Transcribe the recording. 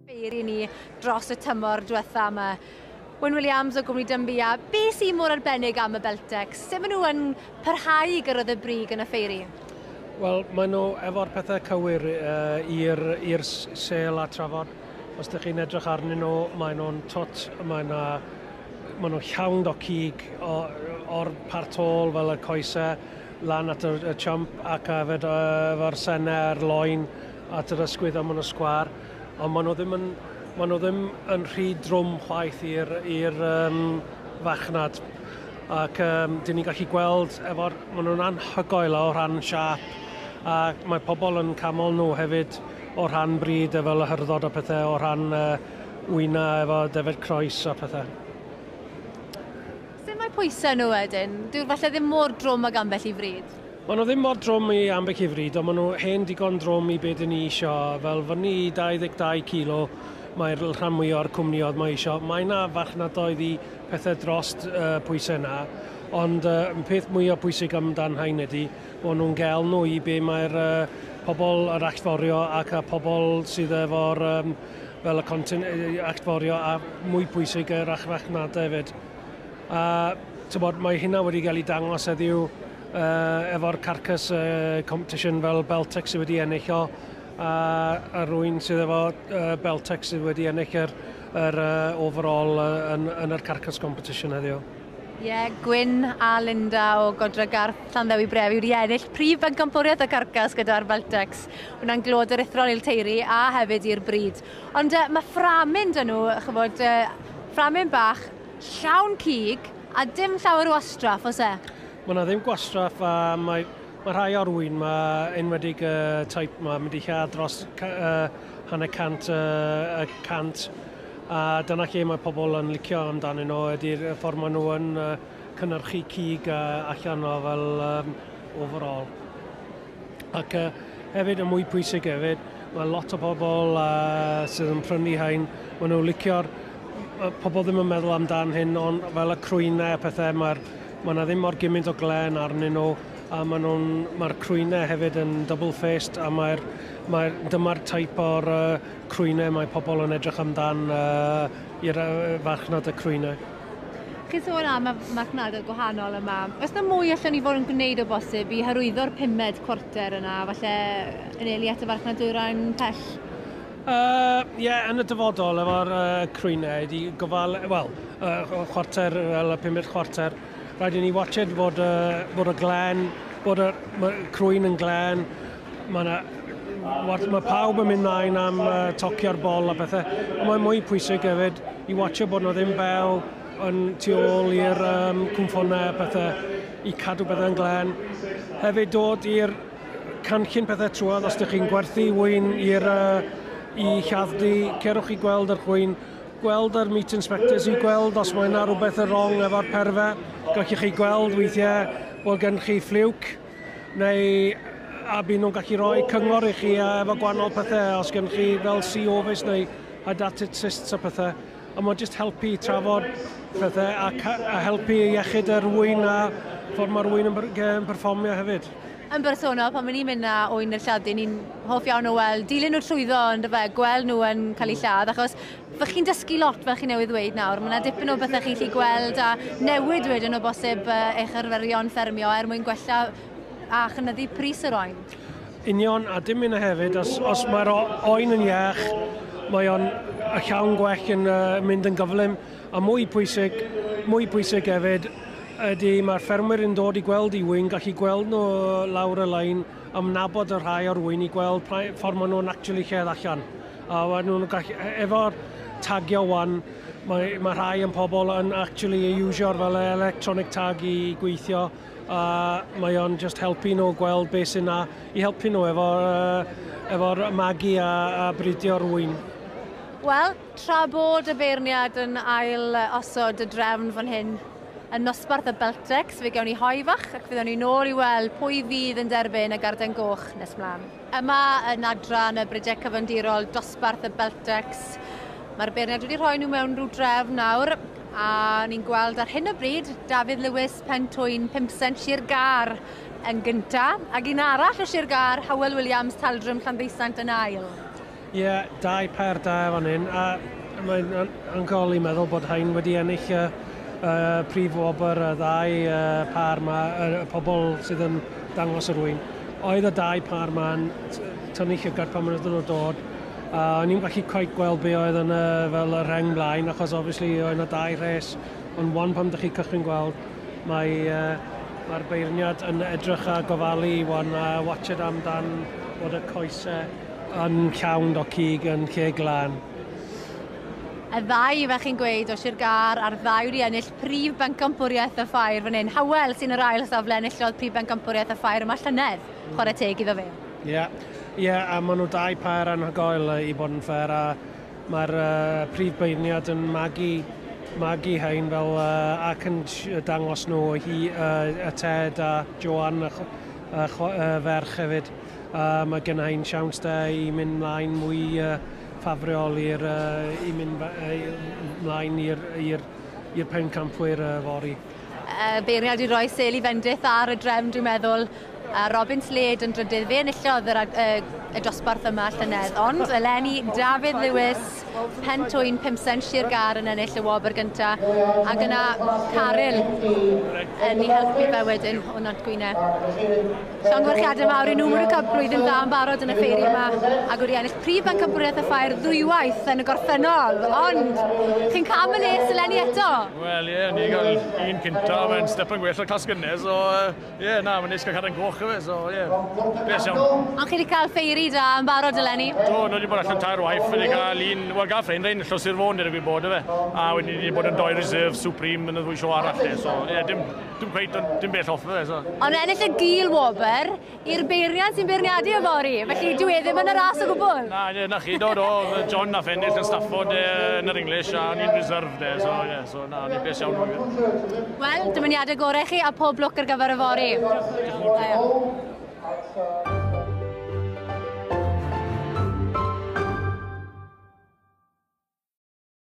Beir i ni dros y tymor diwetha yma. Wyn Williams o Gwmni Dymbu a be sy'n mor arbennig am y Beltex? Sut maen nhw yn parhau i gyrraedd y brig yn y ffeiri? Wel, maen nhw efo'r pethau cywir uh, i'r sel a trafod. Os ydych chi'n edrych arnyn nhw, maen nhw'n tot, maen nhw, maen nhw llawn o cig o'r partol fel y coesau, lan at y y chump ac a yfed yy efo'r senne a'r loen at yr ysgwydd a ma' nw sgwâr on' ma' nw ddim yn ma' nw ddim yn rhy drwm chwaith i'r i'r yym farchnad ac yym 'dyn ni'n gallu gweld efo'r ma' nw'n anhygoel o rhan siâp a mae pobol yn camol nw hefyd o rhan brîd a fel y hyrddodd a pethe o rhan yy wyna efo defaid croes a pethe. Sut mae pwysau nhw wedyn? Dyw'r falle ddim mor drwm ag ambell i fryd? Maen nhw ddim mor drwm i ambell i fryd, ond maen nhw hen digon drwm i be dyn ni isio, fel fyny i 22 kilo mae'r rhan mwy o'r cwmniodd mae isio. Mae yna farchnadoedd i pethau dros uh, pwysau yna, ond uh, peth mwy o pwysig amdan hain ydy, maen nhw'n gael nhw i be mae'r uh, pobl yr allforio ac y pobl sydd efo'r um, fel y content allforio a mwy pwysig yr achrachnadau hefyd. A tybod, mae hynna wedi cael ei dangos heddiw uh, efo'r carcas uh, competition fel Beltex sydd wedi ennill o a, a rwy'n sydd efo uh, Beltex sydd wedi ennill yr, yr uh, overall uh, yn, yn yr carcas competition heddiw. Ie, yeah, Gwyn a Linda o Godra Garth Llanddewi Brefi wedi ennill prif bencampwriaeth y carcas gyda'r Beltex. Wna'n glod yr ithro'n i'r teiri a hefyd i'r bryd. Ond yy ma' fframyn 'da nhw, ch'mod, yy fframyn bach, llawn cig, a dim llawer o wastraff, oes e? Ma' 'na ddim gwastraff a mae ma' rhai o'r ŵyn 'ma, enwedig y teip 'ma, mynd i lladd dros ca- yy hanner cant yy y cant, a dyna lle mae pobl yn licio amdanyn nhw, ydi'r y ffordd maen nhw yn yy cynhyrchu cig yy allan o fel yym overall. Ac uh, hefyd, y mwy pwysig hefyd, mae lot o pobl uh, sydd yn prynu hain, maen nhw licio'r pobl ddim yn meddwl amdan hyn, ond fel y crwynau a pethau, mae'r mae yna ddim mor gymaint o glen arnyn nhw, a mae nhw'n, mae'r crwynau hefyd yn double-faced, a mae'r, mae, dyma'r taip o'r uh, crwynau mae pobl yn edrych amdan uh, i'r uh, farchnad y crwynau. Chi'n sôn am y marchnadoedd gwahanol yma. Oes na mwy allan ni fod yn gwneud o bosib i hyrwyddo'r pumed cwarter yna, falle yn eili at y farchnadwyrain pell? Ie, uh, yeah, yn y dyfodol efo'r uh, crwynau, di gofal, wel, uh, chwarter, fel y pumed chwarter, rhaid i ni watched fod, uh, fod y glen, bod y crwyn yn glen, Mae yna watch, mae pawb yn mynd mlaen am uh, tocio'r bol a bethau. Ond mae'n mwy pwysig hefyd i watcho bod nhw ddim fel yn tu ôl i'r um, cwmffonnau a pethau i cadw bethau yn glen. Hefyd dod i'r canllun pethau trwad os ydych chi'n gwerthu wyn i'r uh, i lladddy, cerwch i gweld yr chwyn, gweld yr meat inspectors i gweld os mae yna rhywbeth yn wrong efo'r perfau. Gallwch chi gweld weithiau bod gen chi ffliwc Neu a byd nhw'n gallu rhoi cyngor i chi efo gwahanol pethau, os gen chi fel COVIS neu hydatid cysts a pethau. A mae'n just helpu i trafod pethau a, a helpu iechyd yr wyn a ffordd mae'r wyn yn performio hefyd yn bersonol, pan ni'n mynd na oen i'r lladd, ni'n hoff iawn o weld, dilyn nhw trwyddo, ond fe, gweld nhw yn cael eu lladd, achos Fy chi'n dysgu lot fel chi newydd ddweud nawr, mae yna dipyn o bethau chi'n chi gweld a newid wedyn o bosib eich arferion ffermio er mwyn gwella a chynyddu pris yr oen. Union, a dim yna hefyd, os, os mae'r oen yn iach, mae o'n llawn gwell yn uh, mynd yn gyflym, a mwy pwysig, mwy pwysig hefyd, ydy mae'r ffermwyr yn dod i gweld i wy'n gallu gweld nhw lawr y lein am nabod y rhai o'r wy'n i gweld ffordd maen nhw'n actually lledd allan. A maen nhw'n gallu... e- efo'r tagio 'wan, mae mae rhai o'n pobl yn actually ei iwsio'r fel e- electronic tag i gweithio, a mae o'n just helpu nhw gweld beth sy'n 'na i helpu nhw efo yy efo'r magu a a bridio rwy'n. Wel, tra bod y beirniad yn ail yy osod y drefn fan hyn yn nosbarth y Beltex, fe gewn ni hoe fach ac fe ddown ni nôl i weld pwy fydd yn derbyn y Garden Goch nes mlan. Yma yn adran y Bridec Cyfandirol, dosbarth y Beltex, mae'r beirniad wedi rhoi nhw mewn rhyw drefn nawr, a ni'n gweld ar hyn o bryd Dafydd Lewis, Pentwyn, Pimsent, Sir Gar yn gyntaf, ac un arall o Sir Gar, Hywel Williams, Taldrwm, Llanddeusant yn ail. Ie, dau pair da fan hyn, a mae'n anhygoel i meddwl bod rhain wedi ennill y prif wobr, y ddau pâr 'ma, y pobl sydd yn dangos yr ŵyn. Oedd y dau pâr 'ma'n tynnu llygad pan oedden nhw'n dod, a o'n i'm gallu cweit gweld be oedd yn y fel y rheng blaen, achos obviously oedd 'na dau rhes, ond 'wan pan dych chi'n cychwyn gweld, mae mae'r beirniad yn edrych a gofalu 'wan a watsiad amdan bod y coese Yn llawn o cig yn lle glân. Y ddau ifaith chi'n gweud o Sir Gâr a'r ddau wedi ennill Prif Bencampwriaeth y Ffair fan hyn. Howell sy'n yr ail safle enillodd Prif Bencampwriaeth y Ffair yma llynedd. Chwarae teg iddo fe. Ie, ie, a maen nhw dau pair anhygoel i fod yn ffer a mae'r prif beirniad yn magu, magu hein fel ac yn dangos nhw hi, y Ted a Joan y ferch hefyd. Uh, mae gennau yn siawns da i mynd mlaen mwy uh, ffafriol i'r uh, i mynd uh, mlaen i'r pencampwyr uh, fori. Uh, beiriad i roi sel i fendith ar y drefn, dwi'n meddwl, a Robin Slade yn drydydd. Fe enillodd yr, uh, y dosbarth yma llynedd, ond eleni Dafydd Lewis Cwrt, Pen Twyn, Pum Sent, Sir Gâr yn ennill y wobr gyntaf, ac yna Caryl yn ei helpu fe wedyn o Nant Gwynedd. Llongyfarchiadau mawr i nhw, maen cael blwyddyn dda yn barod yn y ffeiri yma, ac wedi ennill prif bencampwriaeth y ffair ddwywaith yn y gorffennol, ond chi'n cael y les eleni eto? Wel ie, yeah, ni gael un cyntaf, mae'n step yn gwell o'r clas gynnes, so Ie, yeah, na, mae'n neis cael cadw'n goch efe, so ie, yeah. beth iawn. Ond chi wedi cael ffeiri da yn barod eleni? Do, nhw wedi bod allan tair waith, wedi cael un, wel gael ffein rein llos i'r fôn, dydw i bod efe. A wedi wedi bod yn doi reserve, supreme, yn y ddwy sio arall, e, so ie, yeah, dim, dim cweith, dim bell off efe, so. Ond ennill y gil wobr i'r beiriant sy'n beirniadu y fori, felly dwi e ddim yn y ras o gwbl. Na, ie, na chi, do, do, John na ffennill yn Stafford e, yn yr English, a ni'n reserve de, so ie. Yeah. So, na, ni'n bes iawn o'r gwyr. Wel, dymuniadau gorau chi a pob lwc ar gyfer y fori.